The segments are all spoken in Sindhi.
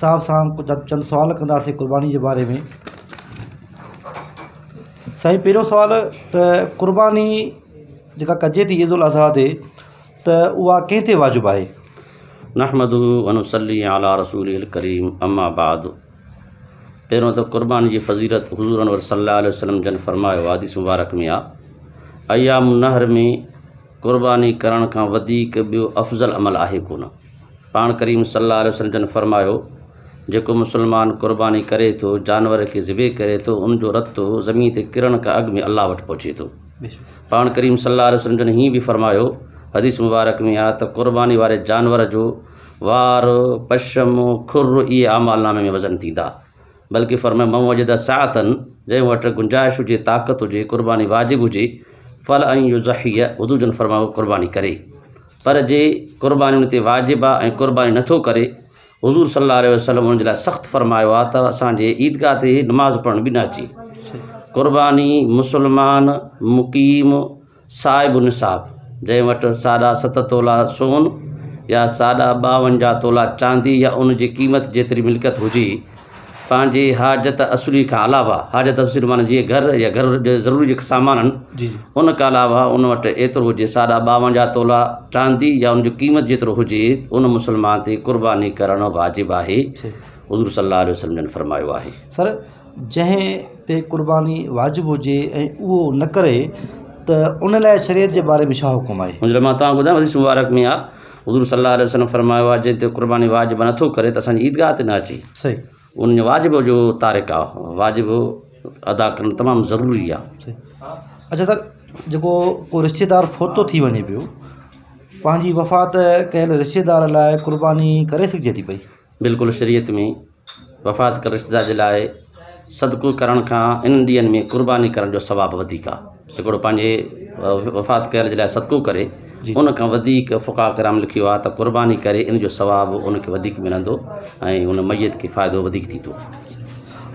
صاحب سان چند سوال ڪنداسين قرباني جي باري ۾ سائين پهريون سوال ته قرباني جيڪا ڪجي ٿي عيد الاضحيٰ تي ته اها ڪنهن تي واجب آهي نحمد ونصلي على رسول الڪريم اما بعد پهريون ته قرباني جي فضيلت حضور انور صلي الله عليه وسلم جن فرمايو حديث مبارڪ ۾ آ ايام النهر ۾ قرباني ڪرڻ کان وڌيڪ ٻيو افضل عمل آهي ڪونه. پاڻ ڪريم صلّي اللّٰه عليه وسلّم جن فرمايو، جيڪو مسلمان قرباني ڪري ٿو، جانور کي ذبح ڪري ٿو، ان جو رتو زمين تي ڪرڻ کان اڳ ۾ الله وٽ پهچي ٿو. پاڻ ڪريم صلّي اللّٰه عليه وسلّم جن هيئن به فرمايو، حديث مبارڪ ۾ آهي ته قرباني واري جانور جو وار، پشم، کر اهي اعمالنامي ۾ وزن ٿيندا. بلڪه فرمايو من وجد سعة جنهن وٽ گنجائش هجي، طاقت هجي، قرباني واجب هجي، فلان يضحي حضور جن فرمايو هو قرباني ڪري. پر جي قرباني ان تي واجب آ ۽ قرباني نه ٿو ڪري، حضور صلي الله عليه وسلم ان جي لاء سخت فرمايو آ ته اسان جي عيدگاهه تي نماز پڙهڻ به نه اچي. قرباني مسلمان مقيم صاحب النصاب، جنهن وٽ ساڍا ست تولا سون يا ساڍا ٻاونجاهه تولا چاندي يا ان جي قيمت جيتري ملڪيت هجي، پنهنجي حاجت اصلي کان علاوه، حاجت اصلي معنيٰ جيئن گهر يا گهر جي ضروري جيڪي سامان آهن، ان کان علاوه ان وٽ ايترو هجي، ساڍا ٻاونجاهه تولا چاندي يا ان جي قيمت جيترو هجي، ان مسلمان تي قرباني ڪرڻ واجب آهي، حضور صلّي اللّٰه عليه وسلّم جن فرمايو آهي. جنهن تي قرباني واجب هجي ۽ اهو نه ڪري ته ان لاء شريعت جي باري ۾ ڇا حڪم آهي؟ منهنجي مان توهان کي ٻڌايان حديث مبارڪ ۾ آ حضور صلي الله عليه وسلم فرمايو آ جنهن تي قرباني واجب نه ٿو ڪري ته اسان جي عيدگاهه تي نه اچي صحيح ان جو واجب جو تارڪ آ واجب ادا ڪرڻ تمام ضروري آ صحيح اچا سر جيڪو ڪو رشتي دار فوتو ٿي وڃي پيو پنهنجي وفات ڪيل رشتي دار لاء قرباني ڪري سگهجي ٿي پئي؟ بلڪل شريعت ۾ وفات ڪندڙ رشتيدار جي لاء صدقو ڪرڻ کان انهن ڏينهن ۾ قرباني ڪرڻ جو ثواب وڌيڪ آهي. هڪڙو پنهنجي وفات ڪيل جي لاء صدقو ڪري، ان کان وڌيڪ فقهاء ڪرام لکيو آهي ته قرباني ڪري ان جو ثواب ان کي وڌيڪ ملندو ۽ ان ميت کي فائدو وڌيڪ ٿيندو.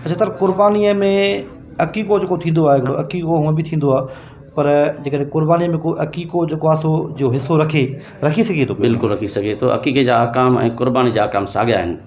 اچا تر قربانيء ۾ عقيقو جيڪو ٿيندو آهي هڪڙو عقيقو هونء به ٿيندو آهي پر جيڪڏهن قربانيء ۾ ڪو عقيقو جيڪو آهي سو جو حصو رکي رکي سگهي ٿو. بلڪل رکي سگهي ٿو عقيقي جا احڪام ۽ قرباني جا احڪام ساڳيا آهن.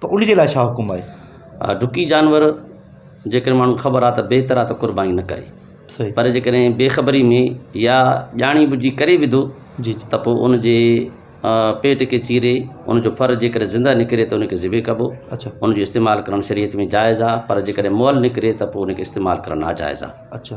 ته ان جي لاء ڇا حڪم آهي؟ ها، ڊڪي جانور جيڪڏهن ماڻهو کي خبر آهي ته بهتر آهي ته قرباني نه ڪري. صحيح. پر جيڪڏهن بي خبري ۾ يا ڄاڻي ٻجهي ڪري وڌو جي جي. ته پوء ان جي پيٽ کي چيري ان جو ڦر جيڪڏهن زنده نڪري ته ان کي ذبح ڪبو. اڇا. ان جو استعمال ڪرڻ شريعت ۾ جائز آهي پر جيڪڏهن مئل نڪري ته پوء ان کي استعمال ڪرڻ ناجائز آهي. اڇا.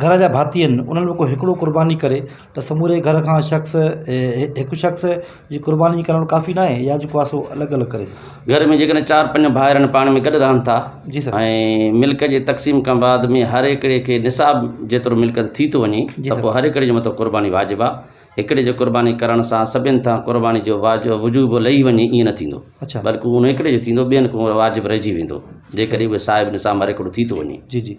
گهر جا ڀاتي آهن انهن ۾ ڪو هڪڙو قرباني ڪري ته سموري گهر کان شخص هڪ شخص جي قرباني ڪرڻ ڪافي نه آهي يا جيڪو آهي سو الڳ الڳ ڪري گهر ۾ جيڪڏهن چار پنج ڀائر آهن پاڻ ۾ گڏ رهن ٿا جي سر ۽ ملڪ جي تقسيم کان بعد ۾ هر هڪڙي کي نصاب جيترو ملڪ ٿي ٿو وڃي ته پوء هر هڪڙي جي مٿو قرباني واجب آهي هڪڙي جي قرباني ڪرڻ سان سڀين تان قرباني جو واج وجوب لهي وڃي ائين نه ٿيندو اڇا بلڪ انهو هڪڙي جو ٿيندو ٻين کان واجب رهجي ويندو جيڪڏهن اهي صاحب نصاب هر هڪڙو ٿي ٿو وڃي جي جي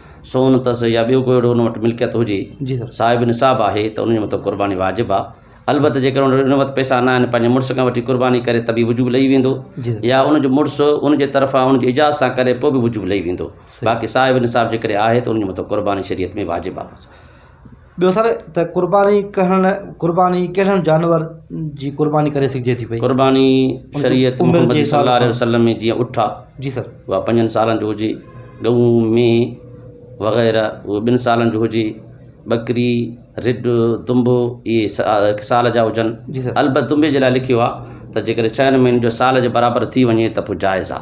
سون اٿس يا ٻيو ڪو اهڙو ان وٽ ملڪيت هجي صاحب نصاب آهي ته ان جي مٿان قرباني واجب آهي البته جيڪڏهن ان وٽ ان وقت پئسا نه آهن پنهنجي مڙس کان وٺي قرباني ڪري ته به وجوب لهي ويندو يا ان جو مڙس ان جي طرفان ان جي اجازت سان ڪري پوء به وجوب لهي ويندو باقي صاحب نصاب جيڪڏهن آهي ته ان جي مٿان قرباني شريعت ۾ واجب آهي. ٻيو سر ته قرباني ڪرڻ قرباني ڪهڙن جانور جي قرباني ڪري سگهجي ٿي پئي قرباني شريعت محمد صلي الله عليه وسلم ۾ جيئن اٺ آ جي سر اها پنجن سالن جو هجي ڳئون مينهن وغيره اهو ٻن سالن جو هجي ٻڪري رڍ دنب اهي هڪ سال جا هجن جي سر البت دنب جي لاء لکيو آ ته جيڪڏهن ڇهن مهينن جو سال جي برابر ٿي وڃي ته پوء جائز آ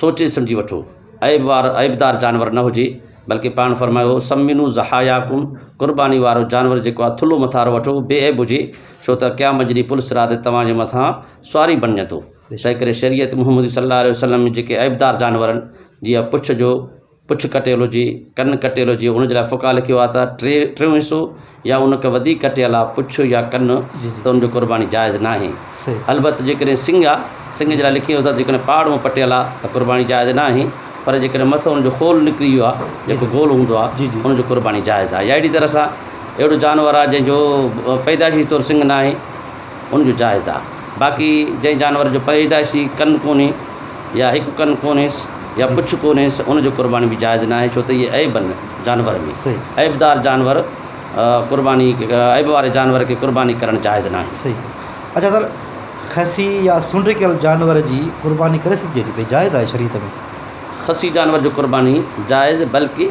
سوچي سمجهي وٺو، عيب وار، عيبدار، جانور نه هجي، بلڪه پاڻ فرمايو، سمنوا ضحاياڪم، قرباني وارو جانور جيڪو آهي ٿلهو مٿان وارو وٺو، بي عيب هجي، ڇو ته قيامت جي ڏينهن پل صراط تي توهان جي مٿان سواري بڻجندو، تنهنڪري شريعت محمدي صلّي الله عليه وسلّم ۾ جيڪي عيبدار جانورن جي يا پڇ جو پڇ ڪٽيل هجي، ڪن ڪٽيل هجي، ان جي لاء فقهاء لکيو آهي ته ٽي ٽيون حصو يا ان کان وڌيڪ ڪٽيل آهي پڇ يا ڪن ته ان جو قرباني جائز ناهي. البت جيڪڏهن سنگ آهي، سنگ جي لاء لکيو اٿس ته جيڪڏهن پاڙون پٽيل آهي ته قرباني جائز ناهي پر جيڪڏهن مٿو ان جو خول نڪري ويو آهي، جيڪو گول هوندو آهي، ان جو قرباني جائز آهي يا اهڙي طرح سان اهڙو جانور آهي جنهن جو پيدائشي طور سنگ ناهي، ان جو جائز آ باقي جنهن جانور جو پيدائشي ڪن ڪونهي يا هڪ ڪن ڪونهيس يا پڇ ڪونهيس ان جو قرباني به جائز ناهي ڇو ته اهي عيب آهن جانور ۾ عيبدار جانور قرباني عيب واري جانور کي قرباني ڪرڻ جائز ناهي صحيح صحيح اچھا سر خسي يا سنڊ ڪيل جانور جي قرباني ڪري سگهجي ٿي پئي جائز آهي شريعت ۾ خسي جانور جو قرباني جائز بلڪه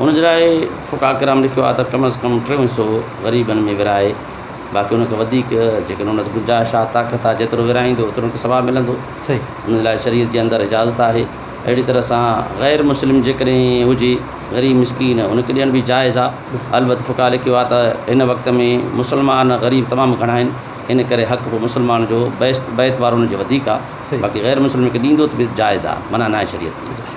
ان جي لاء ڦوٽا ڪرام لکيو آهي ته ڪم از ڪم ٽيون حصو غريبن ۾ ورهائي باقي ان کان وڌيڪ جيڪڏهن ان وٽ گنجائش آهي طاقت آهي جيترو ورهائيندو اوترو ان کي ثواب ملندو ان جي لاء شريعت جي اندر اجازت آهي اهڙي طرح سان غير مسلم جيڪڏهن هجي غريب مسڪين ان کي ڏيڻ به جائز آهي البت ڦوٽا لکيو آهي ته هن وقت ۾ مسلمان غريب تمام گهڻا آهن ان ڪري حق به مسلمان جو بيت وارو ان جو وڌيڪ آهي باقي غير مسلم کي ڏيندو ته به جائز آهي منع ناهي شريعت ۾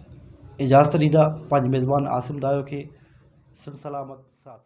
اجازت ڏيندا پنهنجي ميزبان عاصم دايو کي سنڌ سلامت ساٿ سلامت.